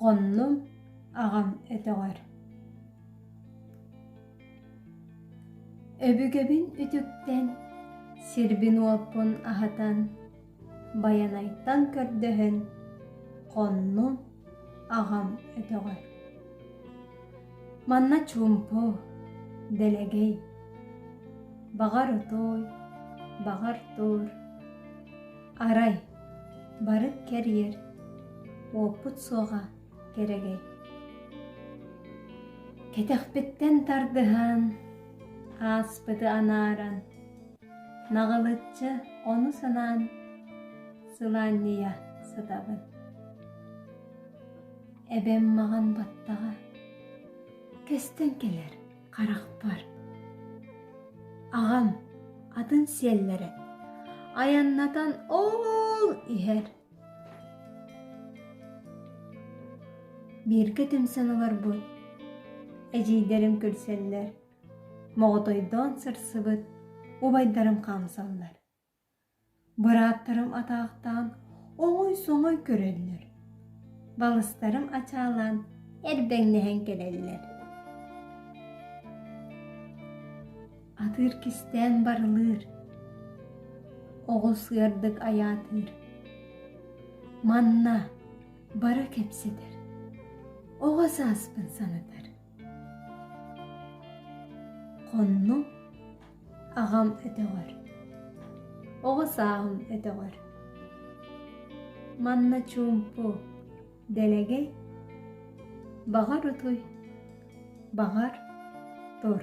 Хоннум аҕам өтөҕөр Өбүгэбин үтүктэн, сирбин-уоппун аһатан, Байанайтан көрдөһөн, хоннум аҕам өтөҕөр. Манна чуумпу, дэлэгэй, баҕар отуой, баҕар туор Арай, бары кэрийэр, уоппут суоҕа кэрэгэй. Кэтэхпиттэн тардыһан, ааспыты анааран, наҕылыччы ону санаан, сылаанньыйа сытабын. Эбэм маҕан баттаҕа, кэстэн кэлэр. харахпар аҕам атын сиэллэрэ айаннатан ол иһэр бииргэ түмсэн олорбут эдьиийдэрим күлсэллэр моҕотойдоон сырсыбыт убайдарым хаамсаллар Бырааттарым атаахтаан оҥой-соҥой көрөллөр, балыстарым ачаалаан эрдэҥнэһэн кэлэллэр. Атыыр кистээн барылыыр, оҕус ыардык айаатыыр. Манна бары кэпсэтэр, оҕо сааспын санатар. Хоннук аҕам өтөҕөр, оҕо сааһым өтөҕөр. Манна чуумпу, дэлэгэй, баҕар утуй, баҕар тур.